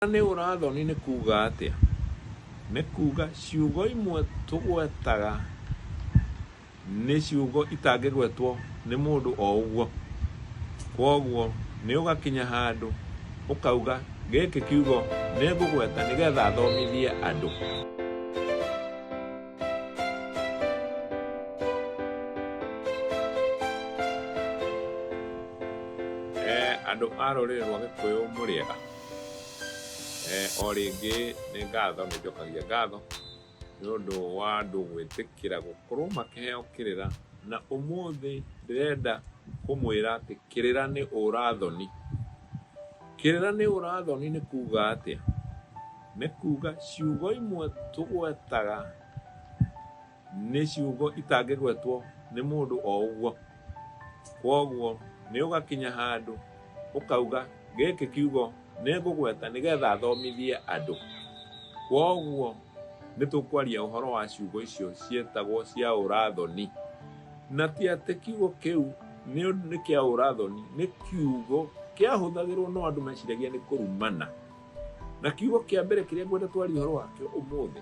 Kũrũngana nĩ ũrathoni nĩ kuuga atĩa? Nĩ kuuga ciugo imwe tũgwetaga nĩ ciugo itangĩgwetwo nĩ mũndũ o ũguo. Kwoguo nĩ ũgakinya handũ ũkauga gĩkĩ kiugo nĩ ngũgweta nĩgetha thomithie andũ. Andũ a rũrĩrĩ rwa Gĩkũyũ mũrĩega? O rĩngĩ nĩ ngatho, nĩ njokagia ngatho nĩ ũndũ wa andũ gwĩtĩkĩra gũkorwo makĩheo kĩrĩra, na ũmũthĩ ndĩrenda kũmwĩra atĩ kĩrĩra nĩ ũra thoni. Kĩrĩra nĩ ũra thoni nĩ kuga atĩa? Nĩ kuga ciugo imwe tũgwetaga. Nĩ ciugo itangĩgwetwo nĩ mũndũ o ũguo. Kwoguo nĩ ũgakinya handũ ũkauga, gĩkĩ kiugo nĩ ngũgweta nĩgetha thomithie andũ. Kwoguo nĩ tũkwaria ũhoro wa ciugo icio ciĩtagwo cia ũrathoni. Na ti atĩ kiugo kĩu nĩ nĩ kĩa ũrathoni, nĩ kiugo kĩahũthagĩrwo no andũ meciragia nĩ kũrumana. Na kiugo kĩa mbere kĩrĩa ngwenda twarie ũhoro wakĩo ũmũthĩ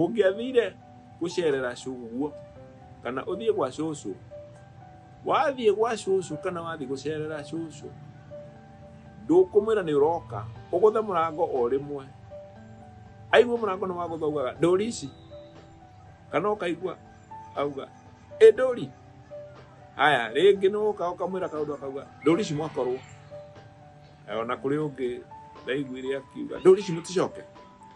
Ũngĩathire gũcerera cũguo kana ũthiĩ gwa cũcũ, wathiĩ gwa cũcũ kana wathiĩ gũcerera cũcũ, ndũkũmwĩra nĩ ũroka, ũgũthe mũrango o rĩmwe. Aigua mũrango nĩ wagũtha ugaga ndũri ici, kana ũkaigua auga ĩ ndũri. Haya, rĩngĩ nĩ ũka ũkamwĩra kaũndũ akauga ndũri ici mwakorwo. Ona kũrĩ ũngĩ ndaiguire akiuga ndũri ici mũticoke.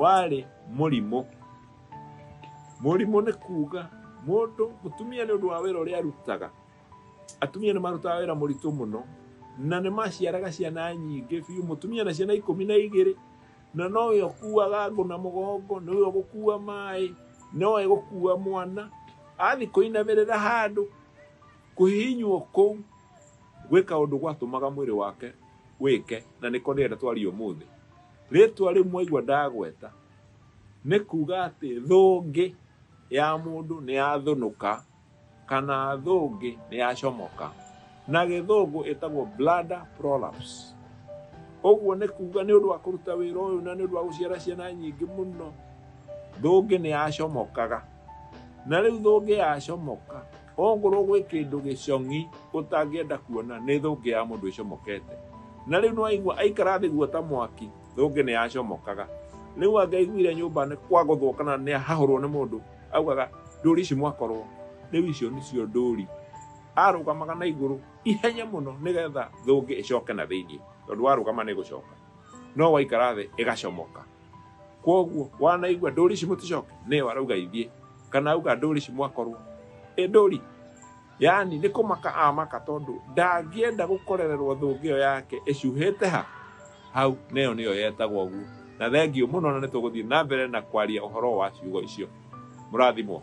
warĩ mũrimũ mũrimũ nĩ kuga mũndũ mũtumia nĩ ũndũ wa wĩra ũrĩa arutaga atumia nĩ marutaga wĩra mũritũ mũno na nĩ maciaraga ciana nyingĩ biũ mũtumia na ciana ikũmi na igĩrĩ na nowe ũkuaga ngũ na mũgongo nĩwe ũgũkua maĩ nowe gũkua mwana athi kũinamĩrĩra handũ kũhihinywo kũu gwĩka ũndũ gwatũmaga mwĩrĩ wake wĩke na nĩko nĩenda twarie ũmũthĩ Rĩtwa rĩu mwaigua ndagweta nĩ kuga atĩ thũngĩ ya mũndũ nĩ yathũnũka kana thũngĩ nĩ yacomoka. Na gĩthũngũ ĩtagwo bladder prolapse. Ũguo nĩ kuga nĩ ũndũ wa kũruta wĩra ũyũ na nĩ ũndũ wa gũciara ciana nyingĩ mũno, thũngĩ nĩ yacomokaga. Na rĩu thũngĩ yacomoka, Ongorwo gwĩ kĩndũ gĩcong'i ũtangĩenda kuona nĩ thũngĩ ya mũndũ ĩcomokete. Na rĩu nĩwaigua aikara thĩ guo ta mwaki, thũngĩ nĩyacomokaga. Rĩu angĩaiguire nyũmba nĩ kwagũthwo kana nĩahahũrwo nĩ mũndũ, augaga, ndũri ici mwakorwo. Rĩu icio nĩcio ndũri. Arũgamaga na igũrũ ihenya mũno nĩgetha thũngĩ ĩcoke na thĩiniĩ, tondũ warũgama nĩgũcoka. No waikara thĩ ĩgacomoka. Kuoguo wanaigua ndũri ici mũticoke, nĩyo arauga ithiĩ. kana auga ndũri ci mwakorwo ĩ ndũri yani nĩ kũmaka amaka tondũ ndangĩenda gũkorererwo thũngĩ ĩyo yake ĩcuhĩte ha hau neyo nĩyo yetagwo ũguo na thengiũ mũno na nĩ tũgũthiĩ na mbere na kwaria ũhoro wa ciugo icio mũrathimwo